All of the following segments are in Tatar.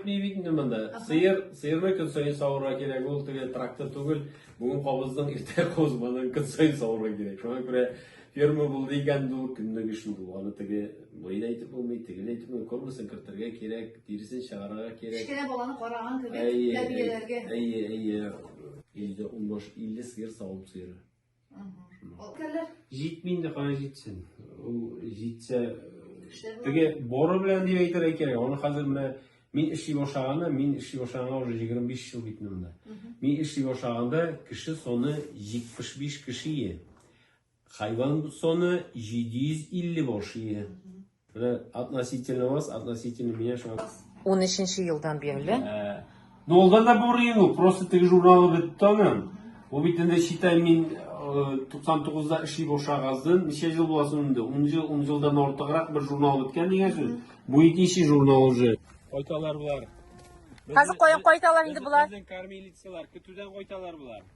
Ни бит инде монда. Сыер, сыерны көн саен савырга кирәк, ул теге трактор түгел. Бүген кабыздың, иртә козманың көн саен савырга кирәк. Шуңа күрә ферма булды икән, ул көнлек эшен бу. Аны теге буен әйтеп булмый, тегел әйтеп булмый, кормасын кертергә кирәк, тиресен чыгарырга кирәк. Кечкенә баланы караган кебек, Әйе, тәрбияләргә. әйе, әйе. Илдә 15-50 сыер савым сыеры. Кәлләр. Җитми инде, кая җитсен. Ул җитсә, теге боры белән дип әйтергә кирәк. Аны хәзер менә мин эшли башлаганда, мин эшли башлаганга уже 25 ел бит монда. Мин эшли башлаганда кеше саны 75 кеше ие. Хайван саны 750 баш ие. Менә относительно вас, относительно меня шуңа. 13 елдан бирле. Ә, Ну, ул да бу рыйну, просто теге журналы бетте аның. Бу бит инде считай мин 99-да эшли башлагаздын, ничә жыл була соң инде? 10 жыл, 10 жылдан артыграк бер журнал беткән дигән сүз. Бу икенче журнал уже. Кайталар булар. Хәзер кая кайталар инде болар? Безнең кормилицалар көтүдән кайталар булар.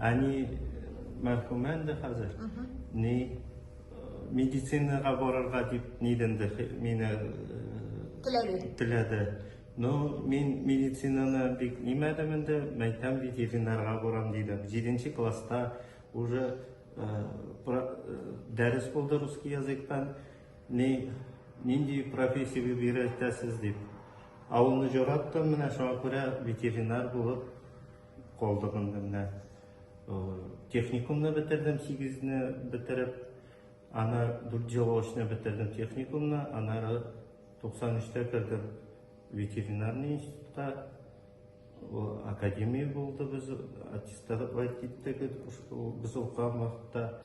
Әни мәрхүмә инде хәзер. Ни медицинага барырга дип нидәндер мине теләде. Теләде. Но мин медицинаны бик нимәдем инде, мәйтәм ветеринарга барам дидем. 7 класста уже дәрес булды русский языктан. Ни нинди профессия бирәсез дип. Авылны җораттым, менә шуңа күрә ветеринар булып Калдык инде менә. Техникумны бетердем, 8-не бетереп, аны 4 ел очны бетердем техникумны, анары 93-тә кердем ветеринарный институтка, академия булды, без аттестат киттек, без укыган вакытта.